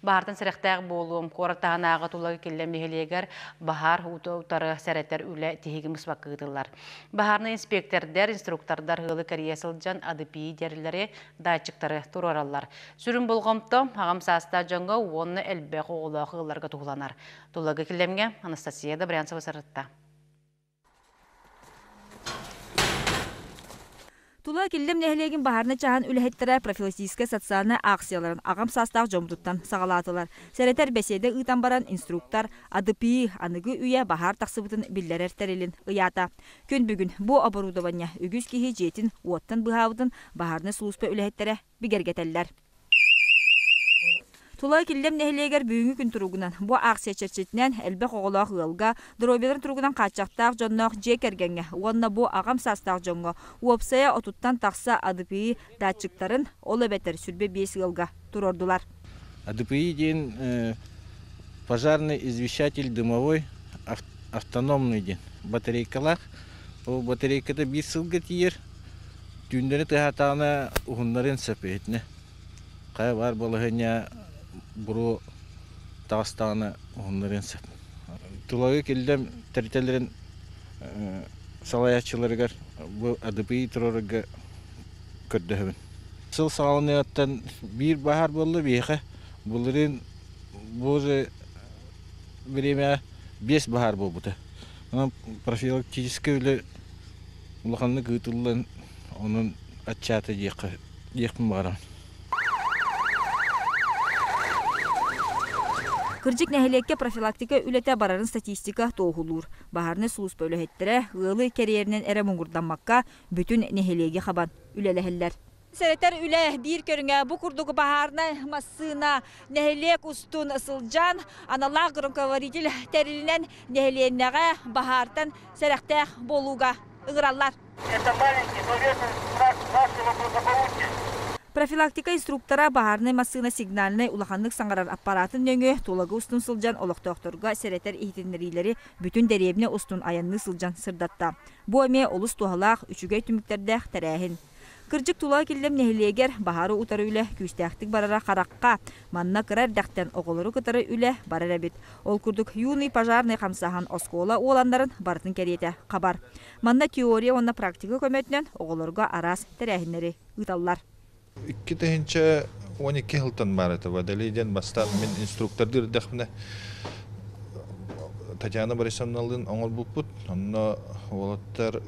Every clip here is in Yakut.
Баартан сэрэхтээх буолуом, куорат таһынааҕы тула киллэн нэһилиэгэр баһаар уута утары сэрэтэр үлэ тиһиги быспакка ыытыллар. Баһаарнай инспектордар, инструктордар ыалы кэрийэ сылдьан АДПИ дьэрилэри, датчиктары туруораллар. Сүрүн болҕомто аҕам саастаах дьоҥҥо уонна элбэх оҕолоох ыалларга туһуланар. Тулагы килэмҥэ Анастасия Добрянцева сырытта. Тула Киллим нэһилиэгин баһаарынай чааһын үлэһиттэрэ профилактическай социальнай аахсыйаларын аҕам саастаах дьоммутуттан саҕалаатылар. Сэрэтэр бэсиэдэ ыытан баран инструктор АДПИ аныгы үйэ баһаар тахсыбытын биллэрэр тэрилин ыйаата. Күн бүгүн бу оборудование үгүс киһи дьиэтин уоттан быһаабытын баһаарынай сулууспа үлэһиттэрэ бигэргэтэллэр. Тулай Киллэм нэһилиэгэр бүгүҥҥү күн туругунан, бу аахсыйа чэрчитинэн элбэх оҕолоох ыалга, доруобуйаларын туругунан хааччахтаах дьонноох дьиэ кэргэҥҥэ уонна бу аҕам саастаах дьоҥҥо уопсайа отуттан тахса АДПИ датчиктарын, ол эбэтэр сүрбэ биэс ыалга туруордулар. АДПИ диэн пожарный извещатель дымовой автономный диэн батарейкалаах. Ол батарейката биир сылга тиийэр Түүндэри тыаһаатаҕына уһуннарын сөп иһитинэ. Хайа баар балаһыанньа буруо таҕыстаҕына уһуннарыан сөп. Тулагы киллэм тэрилтэлэрин салайааччыларыгар бу АДПИ турарга көрдөһөбүн. Сыл саҕаланыаҕыттан биир бааһар буолла биһиэхэ. Былырыын бу уже бириэмэҕэ биэс баһаар буолбута. Онон профилактическай үлэ улаханнык ыытыллан онон аччаата диэххэ диэхпин баҕарам Кырдьык нэһилиэккэ профилактика үлэтэ барарын статистика туоһулуур. Баһаарынай сулууспа үлэһиттэрэ ыалы кэриэринэн эрэ муҥурдаммакка, бүтүн нэһилиэги хабан үлэлэһэллэр. Сэрэтэр үлэ биир көрүҥэ бу курдук баһаарынай массыына нэһилиэк устун сылдьан аналаах громкоговоритель тэрилинэн нэһилиэнньэҕэ баһаартан сэрэхтээх буолууга ыҥыраллар. Профилактика инструктора баһаарынай массыына сигнальнай улаханнык саҥарар аппараатын нөҥүө Тулагы устун сылдьан олохтоохторго сэрэтэр иһитиннэриилэри бүтүн дэриэбинэ устун айанныы сылдьан сырдатта. Бу эмиэ олус туһалаах, үчүгэй түмүктэрдээх тэрээһин. Кырдьык тулаа киллэм нэһилиэгэр баһаары утары үлэ күүстээхтик барара харахха. Манна кыра эрдэхтэн оҕолору кытары үлэ барар эбит. Ол курдук Юный пожарный хамсаһан оскуола уоланнарын барытын кэриэтэ хабар. Манна теория уонна практика көмөтүнэн оҕолорго араас тэрээһиннэри ыыталлар. Икки тыһыынча уон икки сылтан баар этэ. Водолей диэн бастаан мин инструктордуу эрдэхпинэ Татьяна Борисовналыын оҥорбуппут. Онно уолаттар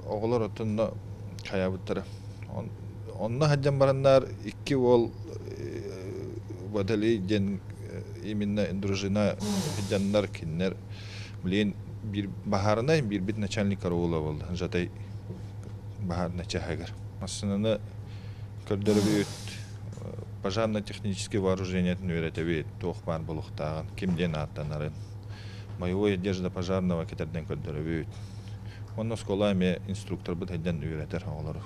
оҕолор оттонно хайаабыттара. Онно сылдьан бараннар икки уол Баталий диэн именно дружина сылдьаннар кинилэр билин биир баһаарынай биирбит начальник караула буолла Жатай баһаарынай чаһыгар. Массыынаны көрдөрөбүт Пожарно-техническэй вооружениетын үөрэтэбит, туох баар буолуохтааҕын, ким диэн ааттанарын. Боевой одежда пожарного кэтэрдэн көрдөрөбүт. Уонна оскуола эмиэ инструкторбыт сайдан үөрэтэр оҕолору.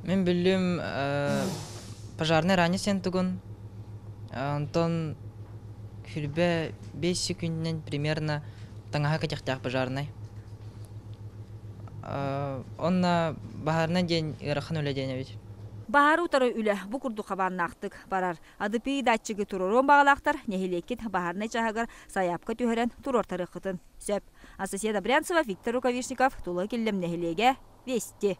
Мин биллим пожарнай ранее сиэн тугун онтон хирбэ бэс секунднан примерно таҥаһа кэтихтээх пожарнай онно баһарна диэн ыарахан үлэ диэн эбит Баһаары утары үлэ бу курдук хабааннаахтык барар. АДПИ датчигы туруоруон баҕалаахтар нэһилиэккит баһаарынай чааһыгар сайаапка түһэрэн туруортарыаххытын сөп. Анастасия Добрянцева, Виктор Рукавишников, Тула Киллэм нэһилиэгэ, Вести.